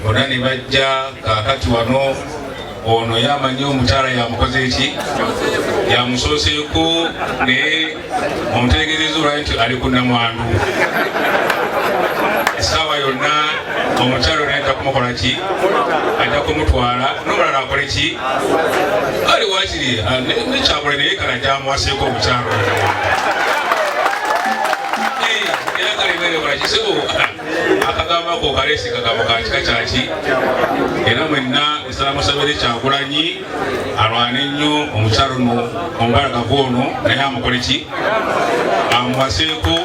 bona ne bajja kaakati wano ono yamanyi omutala yamukoze eki yamusooseeko naye omutegezeeza olwali nti ali ku namwandu essaawa yonna omukyalo naye ajja kumukola ki ajja kumutwala nomulala akole ki ali wakiri ah, nekyakole naye kala gyamuwaseeko omukyalo akagamba ko kalesi kagamba ka kika kyaki era mwenna nsala musabire kyagulanyi alwane nnyo omukyalo no omubalagavu ono naye amukole ki amuwaseeko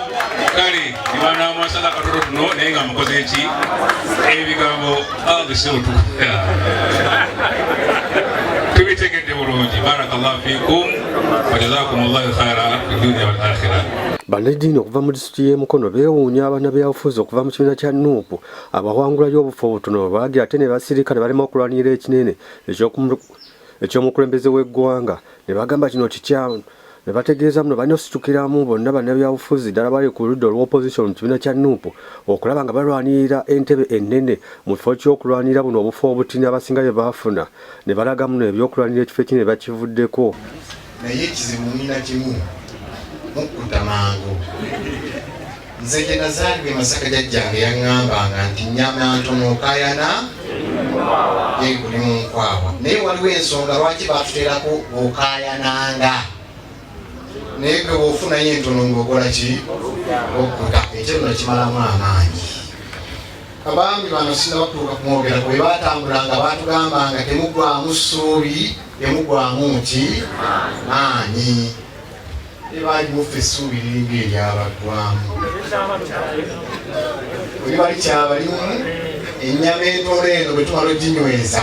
kale nibanamwasala akatoto tuno naye nga amukoze ki ebigambo agiseutu tubitegedde bulungi barakallahu fikum wajazakum llahu khaira fi dunia wal akhira disitulikiti y'e Mukono beewuunya abannabyabufuzi okuva mu kibiina kya nup abawangulayo obufo obutono bwe baagira ate ne basirika ne balema okulwanirira ekinene eky'omukulembeze w'eggwanga ne bagamba kino kikyamu ne bategeeza muno balina ositukiramu bonna bannabyabufuzi ddala bali ku ludda olw'opposition mu kibiina kya nup okulaba nga balwanirira entebe ennene mu kifo ky'okulwanirira buno obufo obutini abasinga bye baafuna ne balagamu no ebyokulwanira ekifo ekinene bakivuddeko. Naye ekizibu mulina kimu mukkuta mangu. Nze gye nazaalibwa e Masaka jajjange yaŋŋambanga nti nnyama ntono okayana yeguli mu nkwawa. Naye waliwo ensonga lwaki batuterako okayananga naye gwe bwofunayo entono ng'okola ki okkuta ekyo nno kimalamu amaanyi. Abami bano sinaba kutuuka kumwogerako bwe baatambulanga baatugambanga temugwamu ssuubi temugwamu nti maanyi ebalimufa essuubi liringa eryabaggwamu oli bali kyabalimu ennyama entono eno bwe tumala oginyweza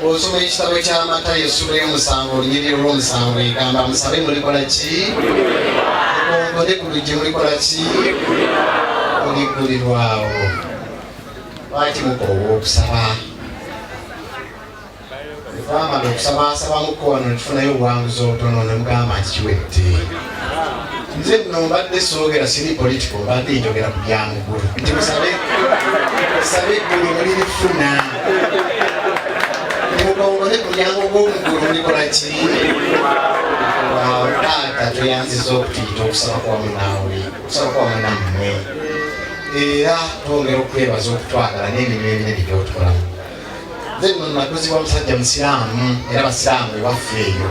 bw'osoma ekitabo kya matayo essula y'omusanvu olunyiriri olw'omusanvu egamba musabe mulikola ki mukonkone ku luggi mulikola ki muliggulirwawo lwaki mukoowa okusaba twamala okusaba asaba mukko wano netufunayo obuwanguzi obutono ne mugamba nti kiwedde nze nno mbadde soogera siri politiko mbadde njogera ku byamugulu nti musabe musabe eggulu mulirifuna mukongole ku lyango gw'omugulu mulikola ki taata tweyanziza okutuyita okusaba kwa munaawe okusaba kwa munammwe era twongera okwebaza okutwagala n'emirimu eminene gyotulamu nze nno nakuzibwa musajja musiraamu era basiraamu ebaffe eyo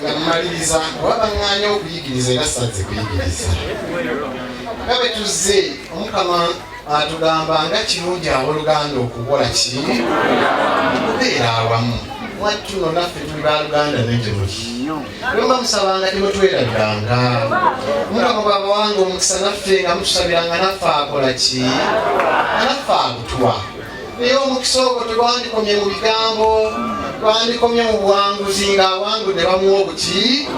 nga mmaliriza oba baŋŋaanya okuyigiriza era sazze kuyigiriza nga bwe tuzze omukama atugamba nga kirungi aboluganda okukola ki okubeera awamu mwattu no naffe tuli baluganda netemuli lwemba musabanga temutwerabiranga mukama bwabawanga omukisa naffe nga mutusabiranga naffe akola ki naffe akutwa naye omukisa ogwo tegwandikomye mu bigambo gwandikomye mu buwanguzi ng'awangu ne bamuwa obuki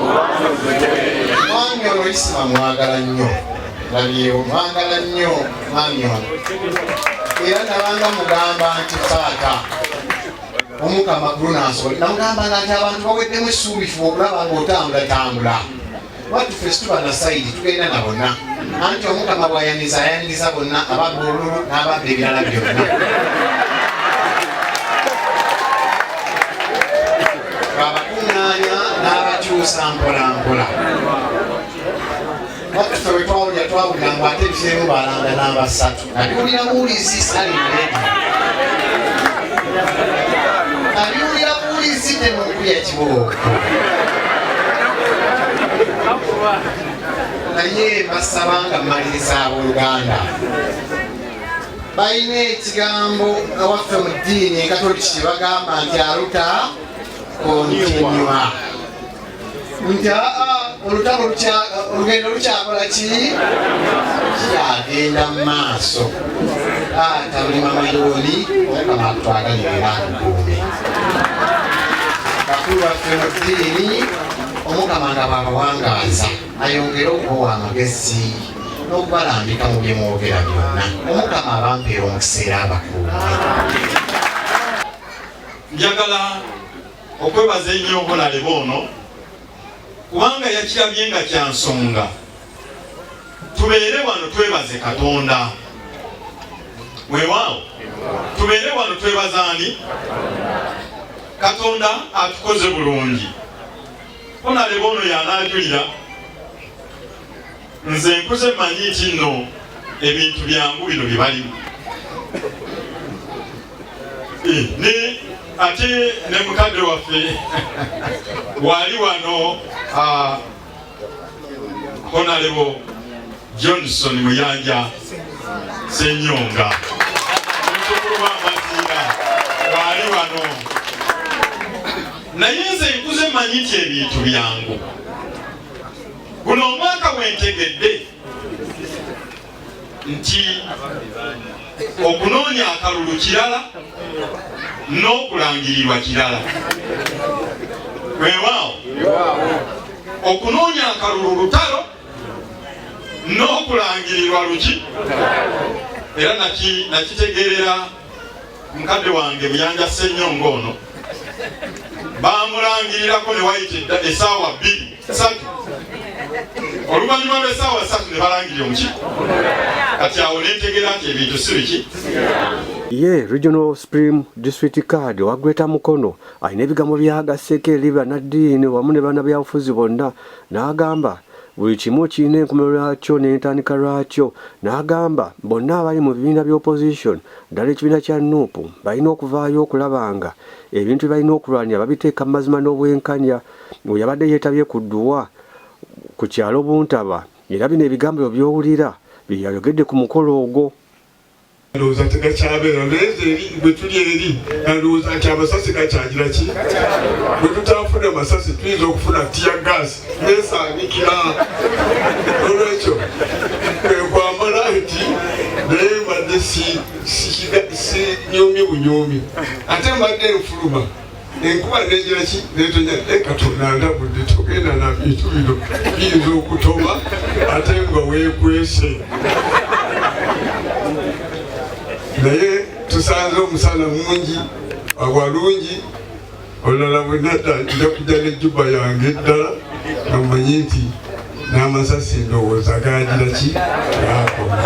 mwami ono isima mwagala nnyo nabyewo mwagala nnyo mwami ono era nabanga mugamba nti taata omukama gulu nansoli namugamba nga nti abantu baweddemu essuubifu okulaba ngaotambulatambula watu ffe situba na sayidi tugenda na bonna anti omukama bwayaniriza ayaniriza bonna ababba olulu n'ababba ebirala byonna abakuŋŋaanya n'abakyusa mpolampola watu ffe wetwawulira twawulira ngu ate ebiseemu balanda n'abasatu Abiwulira buwulizi sali abiwulira buwulizi temukuya kibooko naye basaba nga mmaliriza abooluganda balina ekigambo awaffe mu ddiini ekatoliki bagamba nti aluta kontinua nti aa olutalo olugendo lukyakola ki kyagenda mu maaso taata buli mamayoni omukama atwagalirira akukuume bakulu baffe mu ddiini omukama nga bwabawangaaza ayongere okubawa amagezi n'okubalambika mu bye mwogera byonna omukama abampeera omukiseera abakuume njagala okwebaza ennyo obulalebe ono kubanga yakirabye nga kya nsonga tubeere wano twebaze katonda weewaawo tubeere wano twebaza ani katonda atukoze bulungi onalebe ono yanaajulira nze nkuze manyi nti nno ebintu byangu bino bye balimu eh, ne ate ne mukadde waffe wali wano ah, honalebo johnson muyanja senyonga mutukuluba amaziira wali wano naye nze nkuze manyi nti ebintu byangu Guno omwaka wentegedde nti okunoonya akalulu kirala n'okulangirirwa kirala wewaawo okunoonya akalulu lutalo n'okulangirirwa luki era nakitegeerera mukadde wange buyanja ssenyonga ono bamulangirirako ne wayita esaawa bbiri oluvannyuma lw'essaawa ssatu ne balangira omuki kati awo nentegera nti ebintu si biki ye regional supreme district card owa greater mukono alina ebigambo byagaseeko eri banaddiini wamu ne banabyabufuzi bonna n'agamba buli kimu kirina enkomero lwakyo n'entandika lwakyo n'agamba bonna abali mu bibiina by'opposition ddala ekibiina kya nup balina okuvaayo okulaba nga ebintu bye balina okulwanya babiteeka mu mazima n'obwenkanya Oyo yabadde yeetabye ku dduwa ku kyalo Buntaba era bino ebigambo ebyo by'owulira bye yayogedde ku mukolo ogwo. ndowooza tegakyabeera naye nze eri bwe tuli eri nandowooza nti amasasi gakyagira ki bwe tutaafuna masasi tuyinza okufuna tiya gaasi nesaanikira olwekyo kwekwamala nti naye mbadde sinyoomi bunyoomi ate mbadde nfuluma enkuba nejira ki netonya naye katonda ndabudde togenda na bintu bino biyinza okutoma ate nga wekwese naye tusanze omusana mungi awalungi olulala bwenadda nja kujja nejuba yange eddala namanyi nti n'amasasi ndowooza gagira ki gakoma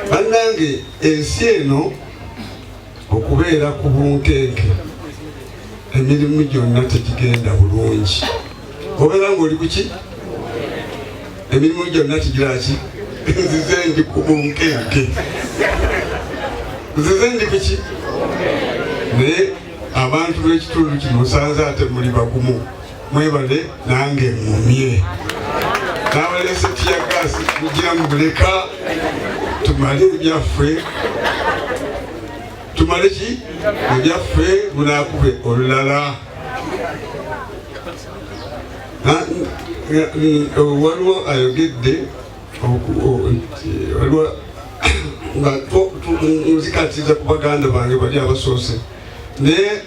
bannange ensi eno okubeera ku bunkenke emirimu gyonna tegigenda bulungi obeera ngaoli kuki emirimu gyonna kigiraki nzize ndi ku bunkenke nzize ndi kuki naye abantu b'ekitundu kino osanze ate muli bagumu mwebale nange mumye nabalese tiyagasi kugira mubuleka tumale ebyaffe tumale ki ebyaffe munakube olulala waliwo ayogedde waliwo nga nzikatiriza ku baganda bange bali abasoose naye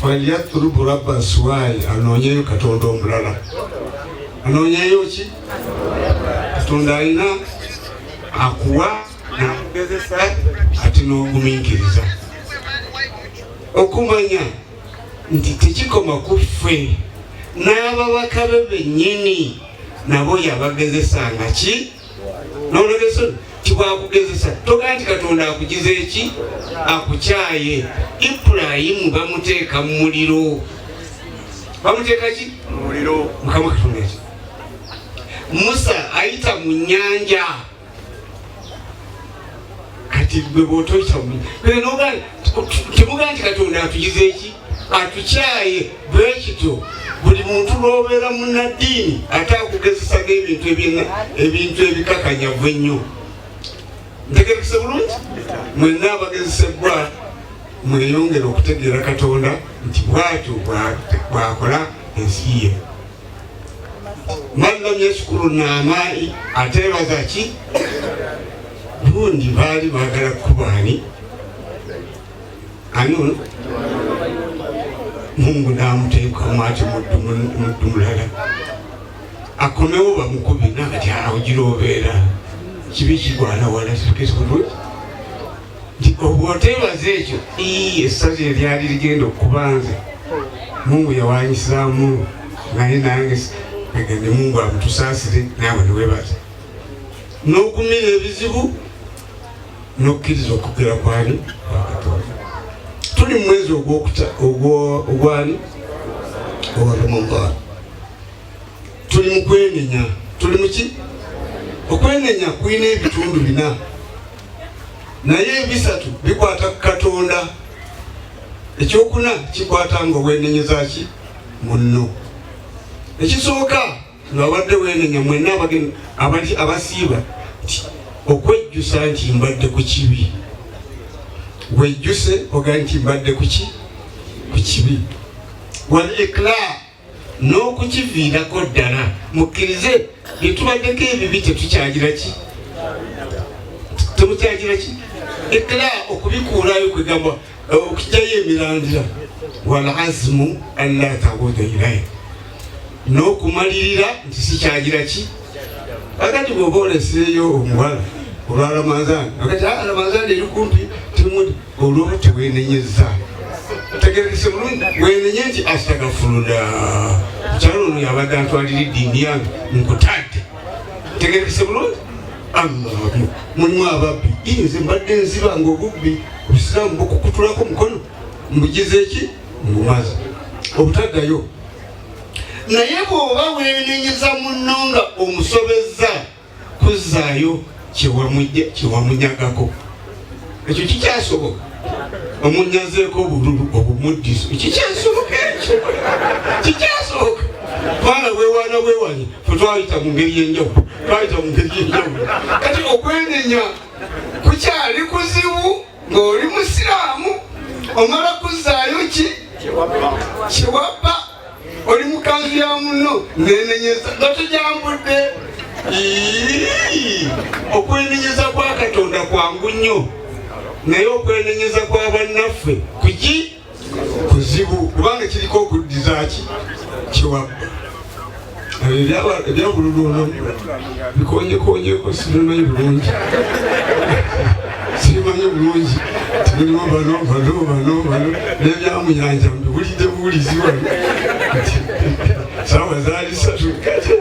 falyatlubu rabba suwai anoonyeyo katonda omulala anoonyeyo ki katonda alina akuwa nakugezesa ati n'ogumiikiriza okumanya nti tekikoma ku ffe n'ababaka be bennyini nabo yabagezesanga ki nolwekyo kibwakugezesa togaa nti katonda akugiza eki akukyaye ibulayimu bamuteeka mu muliro bamuteeka ki muliro mukama katonda eki musa ayita mu nyanja kati gwe bwotoyita temugaa nti katonda atugiza eki atukyaye bwekityo buli muntu lwobeera munaddiini ate akugezesaga ebintu ebintu ebikakanyavu ennyo ntegerekese bulungi mwenna abagezesebbwa mweyongere okutegeera katonda nti bwatyo bwakola ensi ye man lam yashkuru naamai ateebaza ki gundi baali baagala kukubaani ani mungu naamuteekamu ati muddu mulala akomewo bamukubi nakati awo gira obeera kibi kigwana wala sikesi bulungi obwoteebaza ekyo essaza eryali ligenda okuba nze mungu yawanyisaamu naye nange agende mungu amutusaasire naawe niwebaza n'okumira ebizibu n'okkiriza okugera kwani kwakatonda tuli mu mwezi ogwani owa ramadan tuli mu kwenenya tuli muki okwenenya kulina ebitundu bina naye ebisatu bikwata ku katonda ekyokuna kikwata nga owenenyezaki munno ekisooka ngabadde wenenya mwena abasiiba nti okwejjusa nti mbadde ku kibi wejjuse oga nti mbadde kuki ku kibi wal ikla n'okukiviirako ddala mukkirize byetubaddeko ebibi tetukyagira ki temukyagira ki ekla okubikuulayo kwegamba eh, okujayo emirandira wal azimu alla tabuda ilaye n'okumalirira nti sikyagira ki agati bwoba oleseeyo omuwala olwa ramadhan agati ah, ramadhan eri kumpi Olwo tewenenyezza tegerese bulungi wenenye nti astagafuluda mukyalo ono yabadde antwalira eddiini yange nkutadde tegerese bulungi amaabu mulimu ababbi inze mbadde nziba nga obubbi obusiraamu bukukutulako omukono mbugize eki mbumazi obutaddayo naye bwoba wenenyeza munno nga omusobezza kuzzaayo kyewamunyagako ekyo kikyasoboka omunyazeeko obululu obumuddiso kikyasoboka ekyo kikyasoboka kubanga wewana wewanye fe twayita mu ngeri yenjawulo twayita mu ngeri yenjawulo kati okwenenya kukyali kuzibu ng'oli musiraamu omala kuzzaayo ki kyewabba oli mukanzu ya munno nenenyeza nga tujambudde okwenenyeza kwa katonda kwangu nnyo naye okwenenyeza kwa bannaffe kuki kuzibu kubanga kiriko okuddizaki kiwabba ebyabululu bikonyekonyeeko sibimanyi bulungi sibimanyi bulungi tibirimu bano bano bano bano nebyamuyanja mbiwulidde buwulizi wano sawa zaali satu kati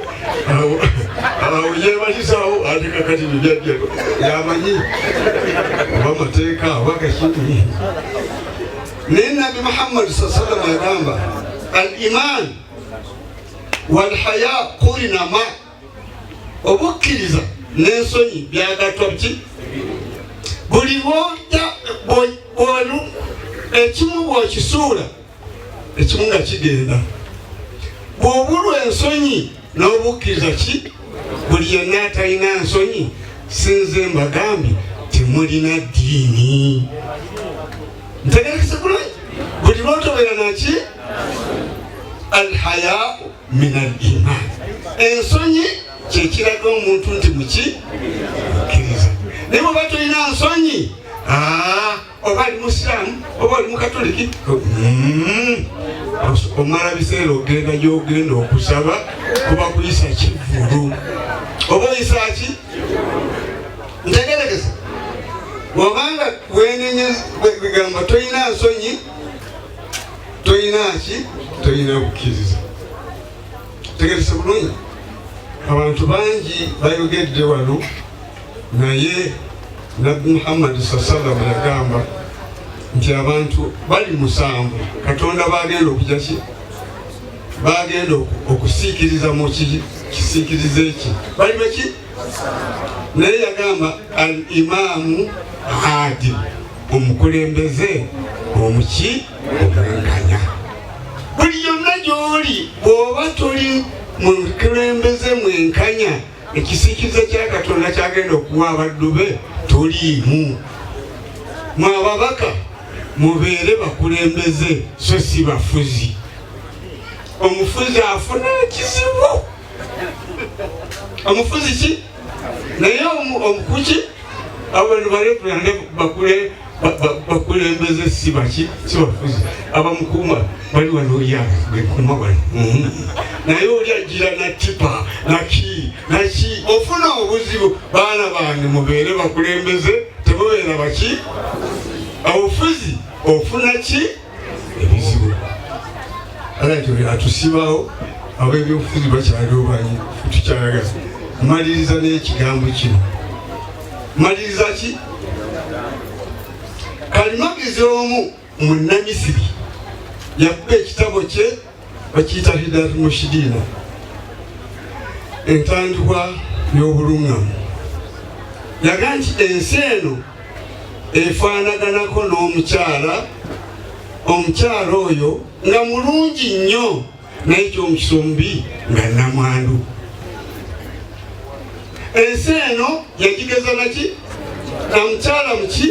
awo yebalisawo ate kakati bibyajja yamanyi oba mateeka oba kakini naye nabi muhammadi saa salama yagamba al iman walhaya kurinama obukkiriza n'ensonyi byagattwa ki buli bwoja bwolu ekimu bwokisuula ekimu nga kigenda bwobulwa ensonyi n'obukkiriza ki buli yenna atalina nsonyi sinze mbagambi temulina ddiini ntegerekese bulungi buli lwotobera naki alhayaau minajjihani ensonyi kyekiraga omuntu nti muki mukkiriza naye oba tolina nsonyi ah, oba ali musiraamu oba oli mukatoliki mm. omala biseera ogenda gyogenda okusaba kuba kuyisa kivulu oba oyisaki ntegerekesa wabanga wenenye bigamba tolina nsonyi tolina ki tolina bukkiriza tegese bulungi abantu bangi bayogedde wano naye nabbi muhammadi saa sallam yagamba nti abantu bali musanvu katonda bagenda okuja ki bagenda okusiikiriza mu kisiikiriza eki bali baki naye yagamba al imaamu adil omukulembeze omuki omwenkanya buli yonna gy'oli bw'oba toli mu mukulembeze mwenkanya ekisikiza kya katonda kyagenda okuwa abaddu be toliimu mwe ababaka mubeere bakulembeze so si bafuzi omufuzi afuna ekizibu omufuzi ki naye omukuki abantu balekulande bakule bakulembeze si baki si bafuzi abamukuuma bali wano oyaga gekuuma wano mm-hmm. naye oli ajira natipa naki naki ofuna obuzibu baana bange mubeere bakulembeze temubeera baki obufuzi ofuna ki ebizibu alatuli atusibawo abebyobufuzi bakyaliwo banyi tukyalaga maliriza n'ekigambo kino maliriza ki kalimagezi omu mu namisiri yakuba ekitabo kye bakiyita hidat mushidina entandikwa y'obuluŋŋamu yaga nti ensi eno efaanaganako n'omukyala omukyala oyo nga mulungi nnyo naye kyomukisa omubi nga namwandu ensi eno yagigeza naki namukyala muki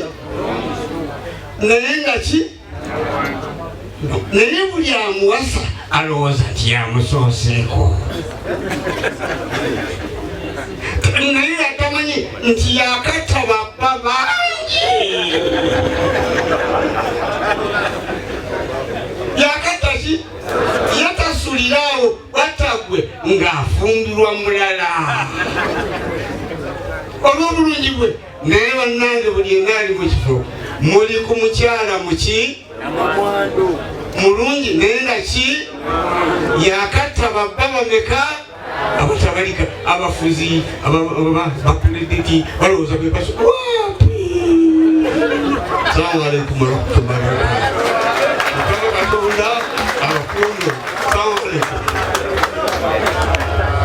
naye nga ki naye buli amuwasa alowooza nti yamusooseeko naye atamanyi nti yakatta babba bangi yakatta ki yatasuliraawo watagwe ng'afumbirwa mulala olw'obulungi bwe naye bannange buli yenna ali mu kifo muli ku mukyala muki mulungi naye nga ki yakatta babba bameka abatabalika abafuzi bakuledeki balowooza bebaso salamu aleikum warahmatullahi wabarakatu katonda abakundo salamu aleikum